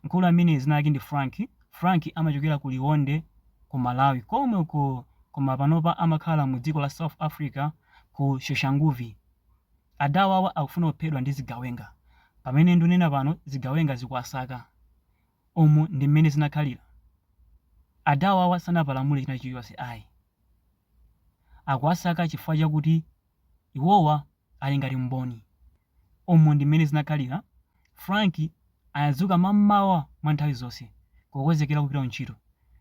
Mkulu ameneyu dzina lake ndi Frank, Frank amachokera ku Liwonde ku Malawi komwe uko koma panopa amakhala mu dziko la South Africa ku Soshanguve. Adawawa akufuna kuphedwa ndi zigawenga. Pamene ndunena pano zigawenga zikuwasaka. Umu ndi mmene zinakhalira. Adawawa sanapalamule china chilichonse ayi. Akuwasaka chifukwa chakuti iwowa ali ngati mboni. Umu ndi mmene zinakhalira Frank. Anadzuka mam'mawa mwa nthawi zonse kukonzekera kupita kuntchito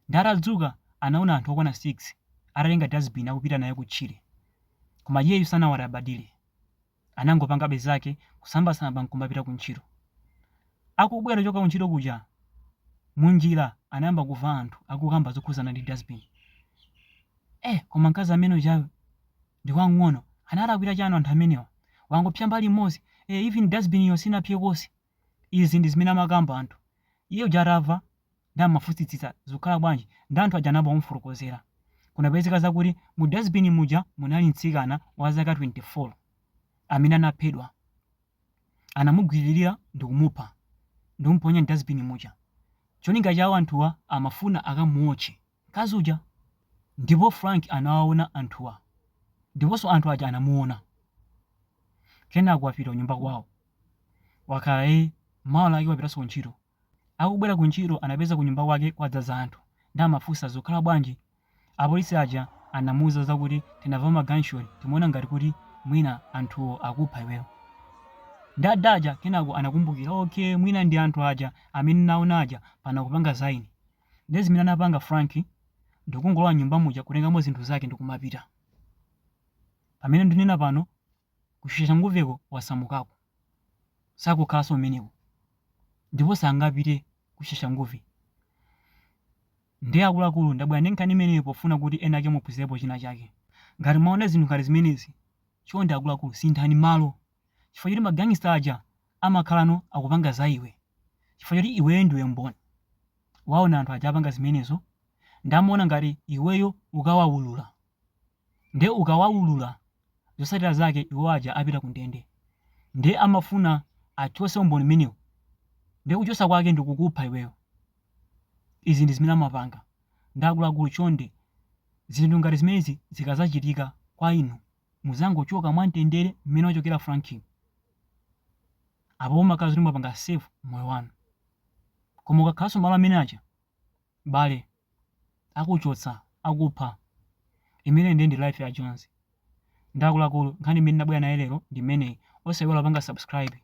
ndi atadzuka anaona anthu okwana 6 atatenga dustbin akupita nayo kutchire koma iyeyu sanawalabadire anangopangabe zake kusambasamba nkumapita kuntchito. Akubwera kuchoka kuntchito kuja munjira anayamba kumva anthu akukamba zokhuzana ndi dustbin. Eh koma mkazi amene ujayu! ndi wamng'ono analakwira chani anthu amenewa wangopsya mbali imodzi ee even dustbin-yo sinapsye konse izi ndi zimene amakamba anthu iye uja atamva nde amafunsitsitsa zikukhala bwanji nde anthu aja anayamba kumufotokozera kunapezeka zakuti mu dustbin muja munali mtsikana wa zaka 24 amene anaphedwa anamugwiririra ndikumupha ndikumuponya mdustbin muja cholinga chawo anthuwa amafuna akamuotche mkazi uja ndipo Frank anawaona anthuwa ndiponso anthu aja anamuona kenako wapita kunyumba kwawo wakhala e mawa lake wapitanso kuntchito akubwera kuntchito anapeza kunyumba kwake kwadzaza anthu ndi amafunsa zikukhala bwanji apolisi aja anamuuza zakuti tinamva ma gunshot timawona ngati kuti mwina anthuwo akupha iweyo ndi ada aja kenako anakumbukira okay mwina ndi anthu aja amene ndawaona aja pano akupanga za ine Ndiye zimene anapanga Frank ndikungolowa nyumba muja kutengamo zinthu zake ndikumapita. Pamene ndinena pano ku Soshanguveko wasamukako. Sakukhalanso kumeneko. Ndipo sangapite ku Soshanguve. Ndiye akuluakulu ndabwera ndi nkhani imeneyi pofuna kuti ena ake muphunzirepo china chake. Ngati mwaona zinthu ngati zimenezi, chonde akuluakulu sinthani malo. chifukwa choti ma gangster aja amakhalano akupanga za iwe chifukwa choti iweyo ndiwe mboni waona anthu aja apanga zimenezo nde amaona ngati iweyo ukawaulula nde ukawaulula zotsatira zake iwo aja apita ku ndende nde amafuna achotse umboni umenewo nde kuchotsa kwake ndikukupha iweyo izi ndi zimene amapanga nde akuluakulu chonde zinthu ngati zimenezi zikadzachitika kwa inu Mudzangochoka mwamtendere mmene wachokera Frankiyo. Apo mumakhala zoti mwapanga save moyo wanu. Koma ukakhalanso malo amene aja, bale, akuchotsa, akupha. Imeneyo ndiye ndi life ya Jozi. Ndi akuluakulu, nkhani imene ndabwera nayo lero ndi imeneyi. Osaiwala kupanga subscribe.